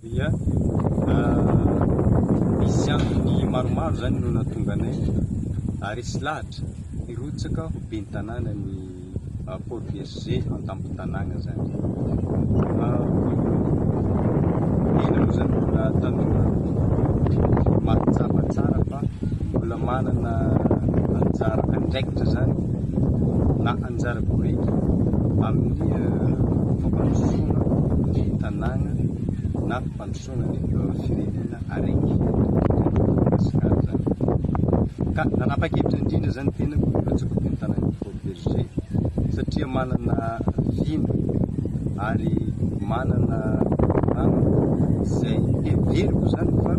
dia nisy antony maromaro izany no nahatonga anay haharesy lahatra hirotsaka ho ben'ny tanàna ny Port Bergé an-tampon-tanàna izany. Tena moa izany mbola tanora mahatsapa tsara fa mbola manana anjara andraikitra izany na anjara boriky amin'ny fampandrosoana Tanàna na fampandrosoana ny firenena araiky eto Madagasikara izany. Ka nanapa-kevitra indrindra izany ny tenako mba tsy ho mpitantana ny Fort Bergé satria manana vina ary manana namana izay heveriko izany fa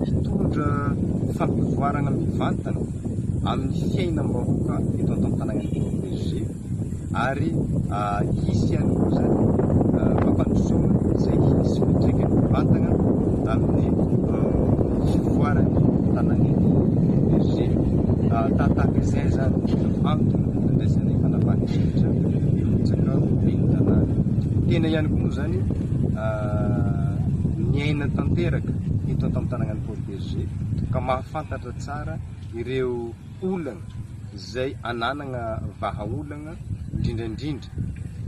hitondra fampivoarana mivantana amin'ny fiainam-bahoaka eto Antantananarivo Fort Bergé. ary hisy ihany koa izany fampandrosoana izay hisy fiantraikany mivantana amin'ny fivoaran'ny tanànan'ny Bergé. Tahatahaka izay izany no antony nandraisana fanapahana hevitra eo amin'ny tsakao ben'ny tanàna. Tena ihany koa moa izany miaina tanteraka eto an-tampon-tanànan'i Port Bergé ka mahafantatra tsara ireo olana izay ananagna vahaolagna indrindra indrindra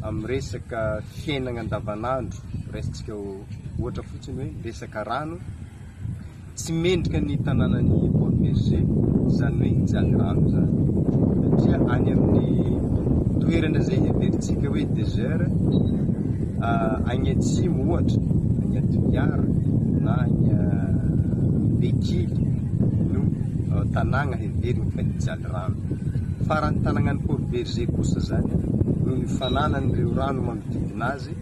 amin'ny resaka fiainagna andavanandro, raisintsika ohatra fotsiny hoe resaka rano, tsy mendrika ny tanànan'i Port Bergé izany hoe hijaly rano izany satria any amin'ny toerana izay heverintsika hoe desert agny atsimo ohatra agny Toliara na agny Bekily no tanàgna heverigny fa hijaly rano. Faran'ny tanàgnan'i Port-Bergé kosa zany, noho ny fananan'ireo rano magnodidina azy,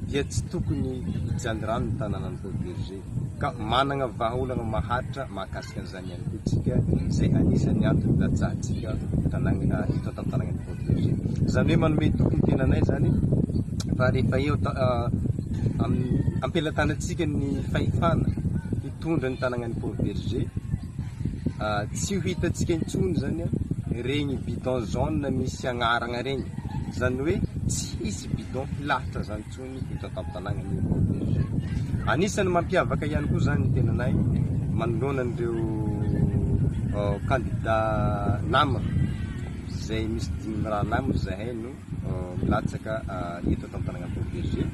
dia tsy tokony hijaly rano ny tanànan'i Port-Bergé. Ka managna vahaolagna maharitra mahakasika an'izany ihany koa tsika, izay anisan'ny antony ilatsahantsika tanàgna eto an-tantanàgnan'i Port-Bergé. Zany hoe manome toky ny tenanay zany fa rehefa eo amin'ny ampelatanantsika ny fahefana, mitondra ny tanànan'i Port Bergé. Tsy ho hitantsika intsony izany ireny bidon jaune misy agnarana ireny, izany hoe tsy hisy bidon hilahatra izany intsony eto an-tampon-tanànan'i Port Bergé. Anisan'ny mampiavaka ihany koa izany ny tenanay manoloana an'ireo kandidà nama izay misy dimy mirahalahy moa izahay no milatsaka eto Antanananarivo Berger.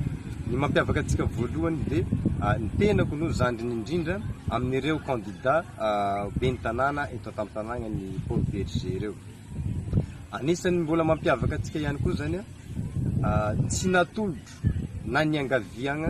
Ny mampiavaka antsika voalohany dia ny tenako no zandriny indrindra amin'ireo kandida ben'ny tanàna eto Antanananan'ny Paul Berger ireo. Anisan'ny mbola mampiavaka antsika ihany koa izany tsy natolotro na niangaviagna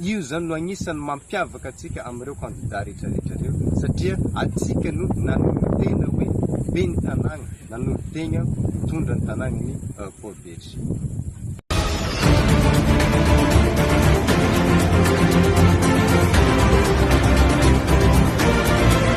Io izany no anisan'ny mampiavaka antsika amin'ireo kandida rehetrarehetra ireo satria antsika no nanolo-tena hoe ben'ny tanàna, nanolo-tena hitondra ny tanàna ny Paul Berger.